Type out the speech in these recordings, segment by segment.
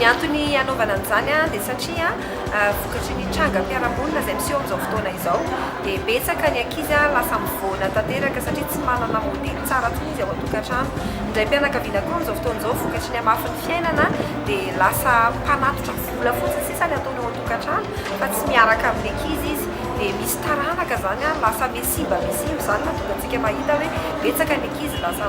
Ny antony hanaovana an'izany dia satria vokatry ny trangam-piarahamonina izay miseho amin'izao fotoana izao dia betsaka ny ankizy lasa mivoana tanteraka satria tsy manana modely tsara intsony izy ao an-tokantrano. Ny raim-pianakaviana koa amin'izao fotoana izao vokatry ny hamafin'ny fiainana dia lasa mpanatitra vola fotsiny sisa ny ataony ao an-tokantrano fa tsy miaraka amin'ny ankizy izy dia misy taranaka izany lasa miha simba miha simba izany mahatonga antsika mahita hoe betsaka ny ankizy lasa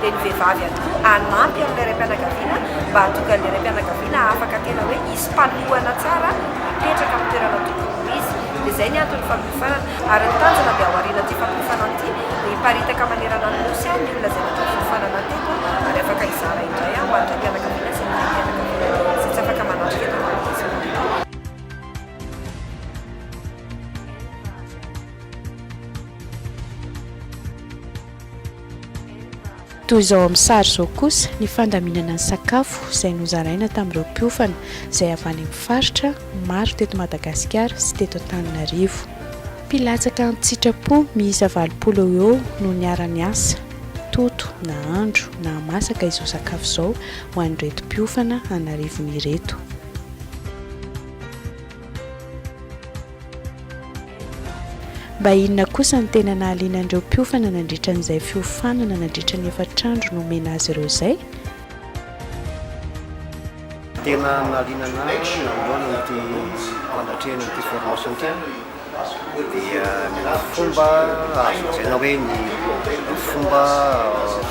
dia ny vehivavy ihany koa hanampy an'ilay raim-pianakaviana mba hahatongan'ilay raim-pianakaviana afaka tena hoe hisy fanohana tsara hipetraka amin'ny toerana tokony ho izy. Dia izay ny anton'ny fampiofanana. Ary ny tanjona dia ao aorian'ity fampiofanana ity dia hiparitaka manerana ny Nosy ny olona izay natao fiofanana teto ary afaka hizara indray ho an'ny raim-pianakaviana sy ny renim-pianakaviana izay tsy afaka manampy eto amin'ny Madagasikara. Toy izao amin'ny sary izao kosa ny fandaminana ny sakafo izay nozaraina tamin'ireo mpiofana izay avy any amin'ny faritra maro teto Madagasikara sy teto Antananarivo. Mpilatsaka an-tsitrapo miisa valopolo eo ho eo no niara-niasa, toto, nahandro, nahamasaka izao sakafo izao ho an'ireto mpiofana an'arivony ireto. Mba inona kosa ny tena nahaliana an'ireo mpiofana nandritra an'izay fiofanana nandritra ny efatra andro nomena azy ireo izay? Tena nahaliana anah nanohana ity fanatrehan'ity formation ity an! dia ny fomba azo lazaina hoe ny fomba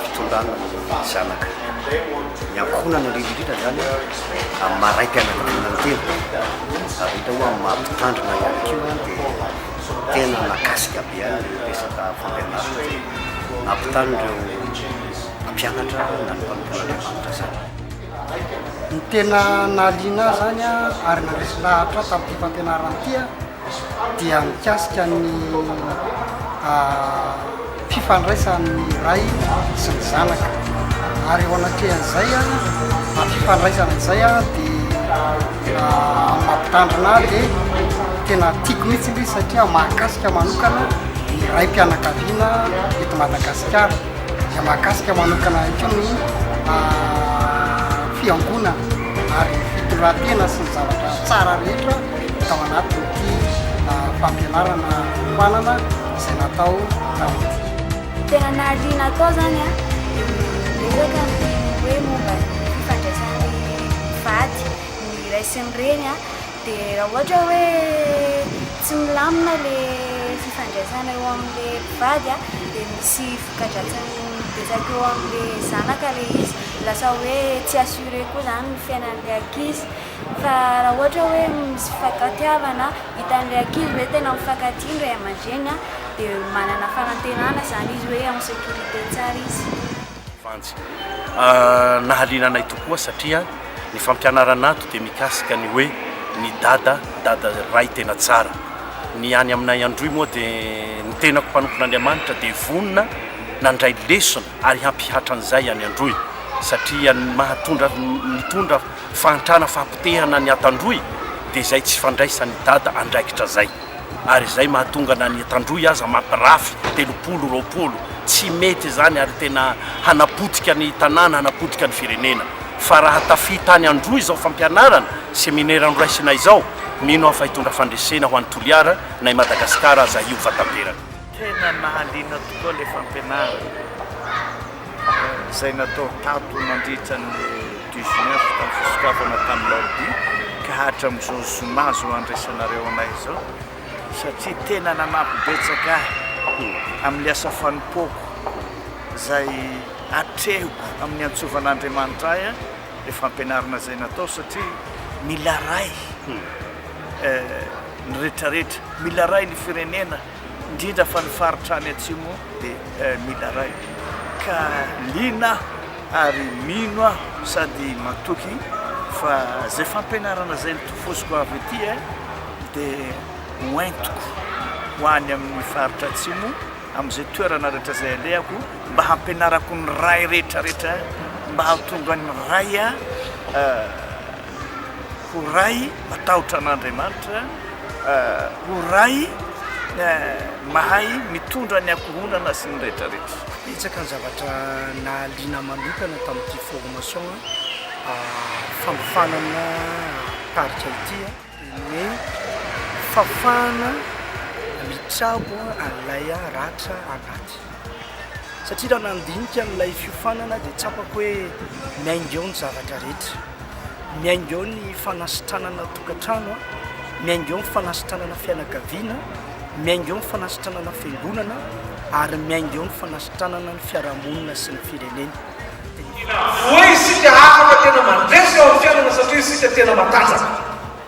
fitondrana ny zanaka. Ny ankohonana indrindra indrindra izany amin'ny maha raim-pianakaviana ny tena, ary hita ao amin'ny maha mpitandrina ihany koa dia tena mahakasika be ihany ny resaka fampianarana teny. Nampitanin'ireo mpianatra na ny mpanompon'Andriamanitra izany. Ny tena nahaliana ahy izany ary nandresy lahatra ahy tamin'ity fampianarana ity dia mikasika ny fifandraisan'ny ray sy ny zanaka ary eo anatrehan'izay fifandraisana izay dia mampitandrina ahy dia tena tiako mihitsy ilay izy satria mahakasika manokana ny raim-pianakaviana eto Madagasikara. izay mahakasika manokana koa ny fiangonana ary ny fitondran-tena sy ny zavatra tsara rehetra tao anatin'ity fampianarana manana izay natao tamin'ity. Tena nahaliana tao izany an, niezaka ny hoe momba ny fifandraisan'ny vady, ny ray sy ny reny an. Dia raha ohatra hoe tsy milamina ilay fifandraisana eo amin'ilay mpivady dia misy voka-dratsiny betsaka eo amin'ilay zanaka ilay izy, lasa hoe tsy assuré koa izany ny fiainan'ilay ankizy. Fa raha ohatra hoe misy fifankatiavana, hitan'ilay ankizy hoe tena mifankatia ny ray aman-dreny dia manana fanantenana izany izy hoe en sécurité tsara izy. Vanjy. Nahaliana anay tokoa satria ny fampianarana ato dia mikasika ny hoe ny dada, dada ray tena tsara. Ny any aminay Androy moa dia ny tenako mpanompon'Andriamanitra dia vonona nandray lesona ary hampihatra an'izay any Androy satria ny mahatondra mitondra fahantrana fahapotehana ny ato Androy dia izay tsy fandraisan'i dada andraikitra izay. ary izay mahatonga na ny etan-drohy aza mampirafy telopolo, roapolo. Tsy mety izany ary tena hanapotika ny tanàna, hanapotika ny firenena. Fa raha tafita any an-drohy izao fampianarana, seminera noraisina izao, mino aho fa hitondra fandresena ho an'i Toliara na i Madagasikara aza io vatanteraka. Tena nahaliana tokoa ilay fampianarana izay natao tato nandritra ny dix neuf tamin'ny fisokafana tamin'ny larobia ka hatramin'izao zoma izao andraisanareo anay izao satria tena nanampy betsaka ahy amin'ny asa fanompoako izay atrehiko amin'ny antsovan'Andriamanitra ahy ilay fampianarana izay natao satria mila ray ny rehetrarehetra, mila ray ny firenena. indrindra fa ny faritra any atsimo dia mila ray ka liana aho ary mino aho sady matoky fa zay fampianarana zay nitofosiko avy ety eh, dia ho entiko ho any amin'ny faritra atsimo amin'izay toerana rehetra zay alehako mba hampianarako ny ray rehetra rehetra mba hahatonga ny ray ah Ho Ray matahotra an'Andriamanitra, ho Ray mahay mitondra ny ankohonana sy ny rehetrarehetra. Betsaka ny zavatra nahaliana manokana tamin'ity formation fanofanana tarika ity a. Ny fahafahana mitsabo an'ilay ratra anaty satria raha nandinika an'ilay fiofanana dia tsapako hoe miainga eo ny zavatra rehetra. miainga eo ny fanasitranana tokantrano, miainga eo ny fanasitranana fianakaviana, miainga eo ny fanasitranana fiangonana ary miainga eo ny fanasitranana ny fiarahamonina sy ny firenena. Inona avoay isika afaka tena mandresy eo amin'ny fiainana satria isika tena matanjaka.